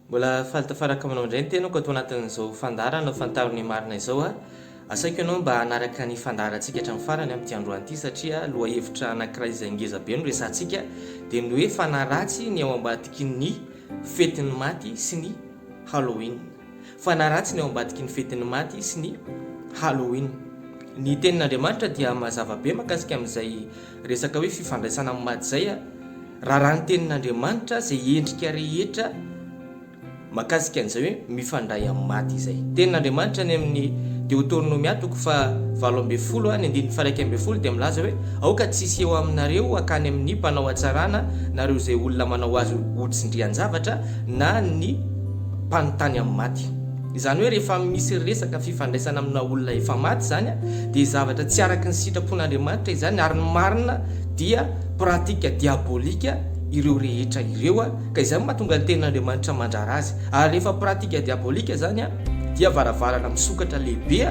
Mbola faly tafaraka aminao indray ny tenako ato anatin'izao fandaharana ho fantaro ny marina izao a. Asaiko ianao mba hanaraka ny fandaharantsika hatramin'ny farany amin'ity androany ity satria lohahevitra anankiray izay ngeza be no resahantsika dia ny hoe fanaratsy ny ao ambadiky ny fetin'ny maty sy ny Halloween. Fanaratsy ny ao ambadiky ny fetin'ny maty sy ny Halloween. Ny tenin'Andriamanitra dia mazava be makasika amin'izay resaka hoe fifandraisana amin'ny maty izay. Raràha ny tenin'Andriamanitra izay endrika rehetra makasika an'izay hoe mifandray amin'ny maty izay. Tenin'Andriamanitra any amin'ny Deotornomia toko fahavalo ambin'ny folo ny andininy faha-iraika ambin'ny folo dia milaza hoe, Aoka tsy hisy eo aminareo hankany amin'ny mpanao hatsarana nareo izay olona manao azy ho tsindrian-javatra na ny mpanontany amin'ny maty. Izany hoe rehefa misy resaka fifandraisana amina olona efa maty izany dia zavatra tsy araka ny sitrapon'Andriamanitra izany ary ny marina dia pratique diabolique ireo rehetra ireo ka izay no mahatonga ny tenin'Andriamanitra mandrara azy ary rehefa pratique diabolique izany dia varavarana misokatra lehibe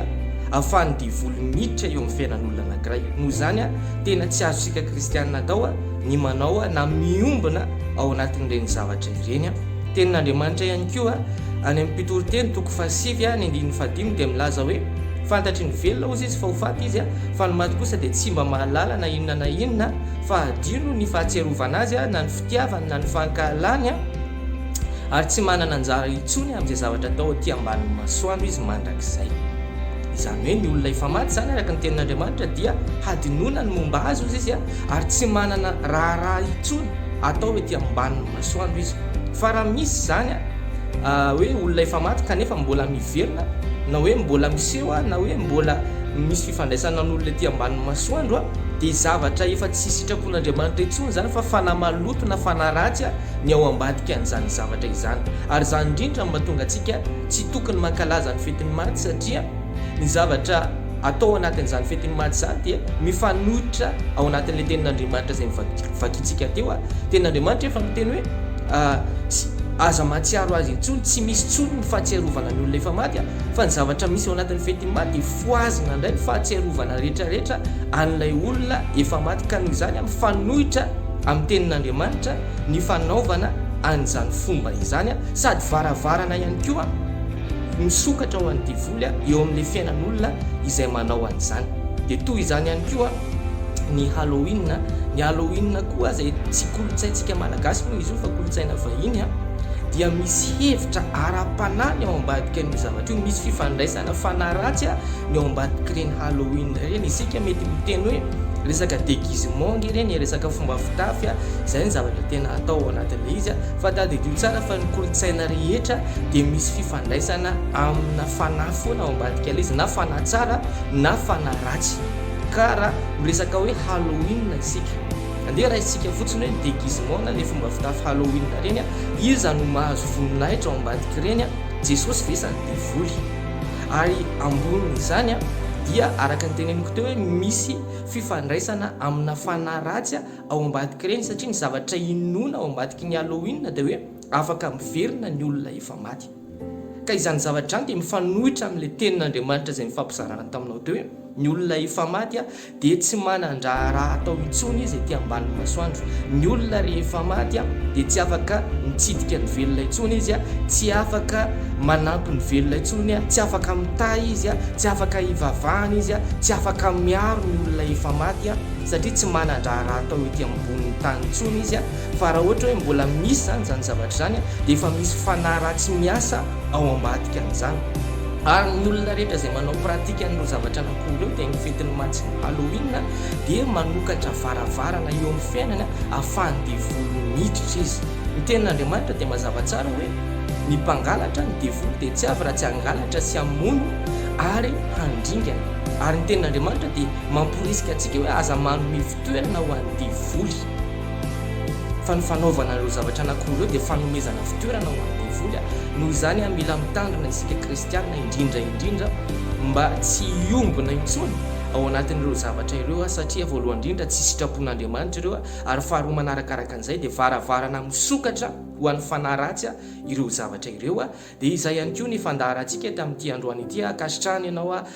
ahafahan'ny devoly miditra eo amin'ny fiainan'olona anankiray. Noho izany tena tsy azontsika kristiana atao ny manao na miombona ao anatin'ireny zavatra ireny. Tenin'Andriamanitra ihany koa, any amin'ny Mpitoriteny toko fahasivy ny andininy fahadimy dia milaza hoe, Fantatry ny velona hozy izy fa ho faty izy, fa ny maty kosa dia tsy mba mahalala na inona na inona, fa hadino ny fahatsiarovana azy na ny fitiavany na ny fankahalany, ary tsy manana anjara intsony amin'izay zavatra atao aty ambanin'ny masoandro izy mandrakizay. Izany hoe ny olona efa maty izany araka ny tenin'Andriamanitra dia hadinoina ny momba azy hozy izy ary tsy manana raharaha intsony atao ety ambanin'ny masoandro izy fa raha misy izany hoe olona efa maty kanefa mbola miverina na hoe mbola miseho na hoe mbola misy fifandraisana an'olona ety ambanin'ny masoandro dia zavatra efa tsy sitrapon'Andriamanitra intsony izany fa fanahy maloto na fanahy ratsy ny ao ambadika an'izany zavatra izany ary izany indrindra no mahatonga antsika tsy tokony mankalaza ny fetin'ny maty satria Ny zavatra atao ao anatin'izany fetin'ny Maty izany dia mifanohitra ao anatin'ilay tenin'Andriamanitra izay novakintsika teo ary. Ny tenin'Andriamanitra efa miteny hoe aza mahatsiaro azy intsony, tsy misy intsony ny fahatsiarovana ny olona efa maty, fa ny zavatra misy ao anatin'ny fetin'ny Maty dia fohazina indray ny fahatsiarovana rehetrarehetra an'ilay olona efa maty, ka noho izany mifanohitra amin'ny tenin'Andriamanitra ny fanaovana an'izany fomba izany, sady varavarana ihany koa. Misokatra ho an'ny devoly eo amin'ilay fiainan'olona izay manao an'izany. Dia toy izany ihany koa ny Halloween. Ny Halloween koa izay tsy kolontsaintsika malagasy moa izy io fa kolontsaina vahiny dia misy hevitra ara-panahy ny ao ambadikan'io zavatra io. Misy fifandraisana fanahy ratsy ny ao ambadik'ireny Halloween ireny. Isika mety miteny hoe resaka déguisement ange ireny, resaka fomba fitafy, izay ny zavatra tena atao ao anatin'ilay izy. Fa tadidio tsara fa ny kolontsaina rehetra dia misy fifandraisana amina fanahy foana ao ambadik'ilay izy na fanahy tsara na fanahy ratsy ka raha miresaka hoe Halloween isika andeha raisintsika fotsiny hoe déguisement na le fomba fitafy Halloween ireny a iza no mahazo voninahitra ao ambadik'ireny a Jesosy ve sa ny devoly ary ambonin'izany a dia araka ny teneniko teo hoe misy fifandraisana amina fanahy ratsy ao ambadik'ireny satria ny zavatra inoana ao ambadiky ny Halloween dia hoe Afaka miverina ny olona efa maty. Ka izany zavatra izany dia mifanohitra amin'ilay tenin'Andriamanitra izay nifampizarana taminao teo hoe, Ny olona efa maty dia tsy manan-draharaha atao intsony izy ety ambanin'ny masoandro. Ny olona rehefa maty dia tsy afaka mitsidika ny velona intsony izy, tsy afaka manampy ny velona intsony, tsy afaka mitahy izy, tsy afaka hivavahana izy, tsy afaka miaro ny olona efa maty, satria tsy manan-draharaha atao ety ambonin'ny tany intsony izy. Fa raha ohatra hoe mbola misy izany izany zavatra izany dia efa misy fanahy ratsy miasa ao ambadika an'izany. Ary ny olona rehetra izay manao pratique an'ireo zavatra anakoa ireo dia ny fetin'ny matsin'ny Halloween dia manokatra varavarana eo amin'ny fiainany ahafahan'ny devoly miditra izy. Ny tenin'Andriamanitra dia mazava tsara hoe ny mpangalatra, ny devoly, dia tsy avy raha tsy hangalatra sy hamono ary handringana. Ary ny tenin'Andriamanitra dia mamporisika antsika hoe aza manome fitoerana ho an'ny devoly. Fa ny fanaovana ireo zavatra anankiroa ireo dia fanomezana fitoerana ho an'ny devoly. Noho izany, mila mitandrina isika kristiana, indrindra indrindra mba tsy hiombona intsony ao anatin'ireo zavatra ireo, satria voalohany indrindra tsy sitrapon'Andriamanitra ireo, ary faharoa manarakaraka an'izay dia varavarana misokatra ho an'ny fanahy ratsy ireo zavatra ireo. Dia izay ihany koa ny fandaharantsika eto amin'ity androany ity, ankasitrahana ianao.